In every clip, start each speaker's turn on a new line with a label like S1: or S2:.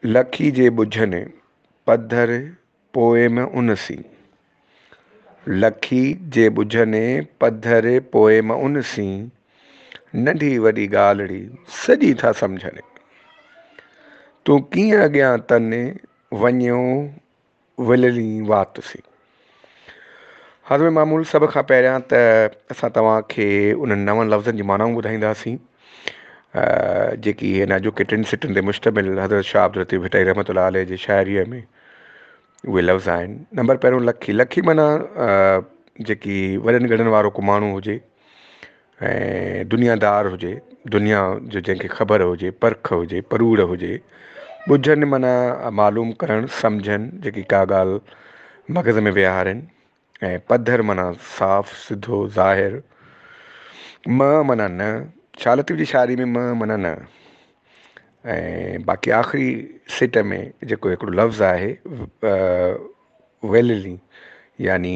S1: لکي جي ٻجهن پڌر پوئم ان سين. لکي جي ٻجهن پڌر پوئم ان سين، ننڍي وڏي ڳالهڙي سڄي ٿا سمجهن. تون ڪيئن اڳيان تن وڃيو وللي وات سي. حضم معمول سڀ کان پهريان ته اسان توهان کي انهن نون لفظن جي معنائون ٻڌائينداسين جيڪي هن اڄوڪي ٽن سٽن تي مشتمل حضرت شاهه عبداللطيف ڀٽائي رحمت الله عليه جي شاعريء ۾ اهي لفظ آهن نمبر پهريون لکي لکي معنيٰ جيڪي وڏن ڳڙن وارو ڪو ماڻهو هجي ۽ دنيا دار هجي دنيا جو جنهن کي خبر هجي پرک هجي پروڙ هجي ٻجهن معنيٰ معلوم ڪرڻ سمجهن جيڪي ڪا ڳالهه مغز ۾ ويهارين ۽ پڌر معنيٰ صاف سڌو ظاهر م معنيٰ نه شال لطيف جي شاعري ۾ م معنيٰ نه ۽ باقي آخري سٽ ۾ جيڪو هڪڙو لفظ آهي ويللي يعني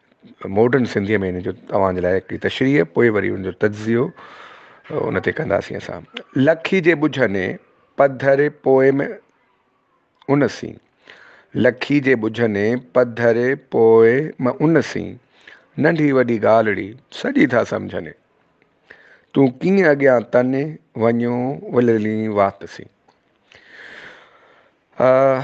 S1: ماڊرن سنڌيء ۾ ان جو اوهان جي لاء هڪڙي تشريح پوء وري ان جو تجزيو ان تي ڪنداسين اسان. لکي جي ٻجهني پڌر Poem ان سين لکي جي ٻجهني پڌر Poem ان سين ننڍي وڏي ڳالهڙي سڄي ٿا سمجهني تون ڪيئن اڳيان تني وڃيو وللين وات سين آه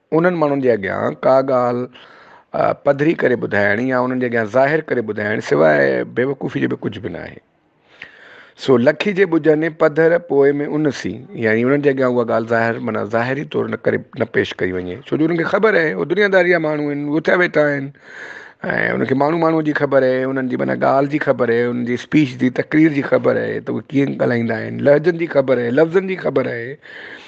S1: انهن ماڻهن جي اڳيان ڪا ڳالهه پڌري ڪري ٻڌائڻ يا انهن جي اڳيان ظاهر ڪري ٻڌائڻ سواء بيوقوفي جي ٻيو ڪجهه به ناهي. سو لکي جي ٻجهن ۽ پڌر پوء ۾ ان سي يعني انهن جي اڳيان اها ڳالهه ظاهر معنيٰ ظاهري طور نه ڪري نه پيش ڪئي وڃي ڇو جو انهن کي خبر آهي اهي دنياداري جا ماڻهو آهن اٿيا ويٺا آهن ۽ انهن کي ماڻهو ماڻهو جي خبر آهي انهن جي معنيٰ ڳالهه جي خبر آهي انهن جي اسپيچ جي تقرير جي خبر آهي ته اهي ڪيئن ڳالهائيندا آهن لهجن جي خبر آهي لفظن جي خبر آهي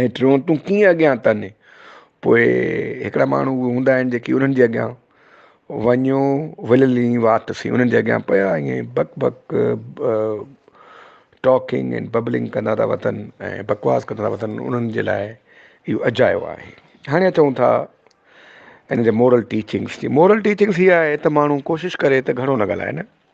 S1: ۽ ٽيون تون ڪيئن اڳيان تن پوء هڪڙا ماڻهو اهي هوندا آهن جيڪي انهن جي اڳيان وڃو وللي وات سين انهن جي اڳيان پيا ائين بڪ بڪ ٽاڪنگ ۽ ببلنگ ڪندا ٿا وتن ۽ بڪواس ڪندا ٿا وتن انهن جي لاء اهو اجايو آهي هاڻي اچون ٿا ان جي مورل ٽيچنگس جي مورل ٽيچنگس هي آهي ته ماڻهو ڪوشش ڪري ته گهڻو نه ڳالهائي نه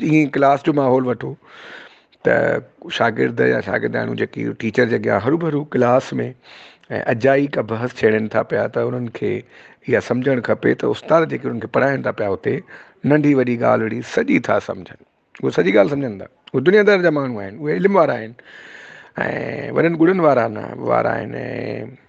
S1: جيئن ئي ڪلاس جو ماحول وٺو ته شاگرد يا شاگردياڻيون جيڪي ٽيچر جي اڳيان ھرو ڀرو ڪلاس ۾ ۽ اجائي ڪا بحث ڇيڙين ٿا پيا ته انھن کي اھا سمجھڻ کپي ته استاد جيڪي انھن کي پڙھائين ٿا پيا اتي ننڍي وڏي ڳالھه اھڙي سڄي ٿا سمجھن اھي سڄي ڳالھه سمجھن ٿا اھي دنيا دار جا ماڻھو آھن اھي علم وارا آھن ۽ وڏن ڳڙن وارا نه وارا آھن ۽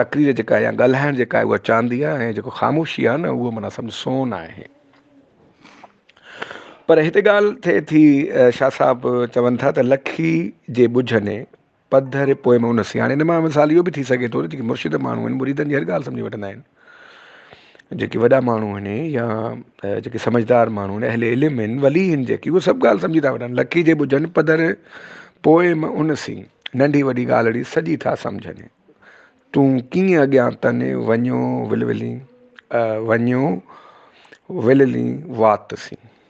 S1: تقرير جيڪا يا ڳالهائڻ جيڪا آهي اها چاندي آهي ۽ جيڪو خاموشي آهي نه اهو منا سمجھ سون آهي پر هتي ڳالهه ٿئي ٿي شاهه صاحب چون ٿا ته لکي جي ٻجھ ۾ پڌر پوء ۾ ان سياڻي هن مان مثال اهو به ٿي سگهي ٿو ته جيڪي مرشد ماڻهو آهن مريدن جي هر ڳالهه سمجھي وٺندا آهن جيڪي وڏا ماڻهو آهن يا جيڪي سمجهدار ماڻهو آهن اهل علم آهن ولي آهن جيڪي اهي سڀ ڳالهه سمجهي ٿا وٺن لکي جي ٻڌن پڌر پوء م ان سين ننڍي وڏي ڳالهڙي سڄي ٿا سمجهن تون ڪيئن اڳيان تن وڃو ولولين وڃو وللين وات سين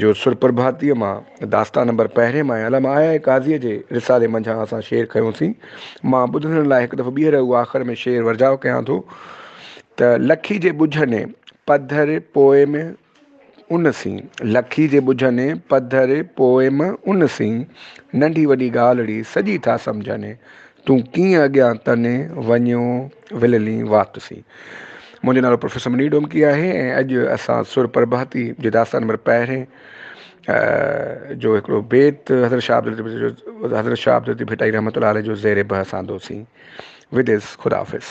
S1: جو سرپرڀاتيء مان داستان نمبر پهرين مان ۽ علامه آيا قاضيء جي رسالي منجهان اسان شعر کنيوسين. مان ٻڌندڙن لاء هڪ دفعو ٻيهر اهو آخر ۾ شعر ورجاء ڪيان ٿو ته لکي جي ٻجهه ني پڌر پوئم ان سين. لکي جي ٻجهه ني پڌر پوئم ان سين. ننڍي وڏي ڳالهڙي سڄي ٿا سمجهني. تون ڪيئن اڳيان تني وڃيو. وللين وات سين. منهنجو نالو پروفيسر منير ڊومڪي آهي ۽ اڄ اسان سر پرڀاتي جي داستان نمبر پهرين جو هڪڙو بيت حضرت شاهه عبدالطيف جو حضرت شاهه عبدالطيف ڀٽائي رحمت الله عليه جو زير بحث آندوسين وديس خداحافظ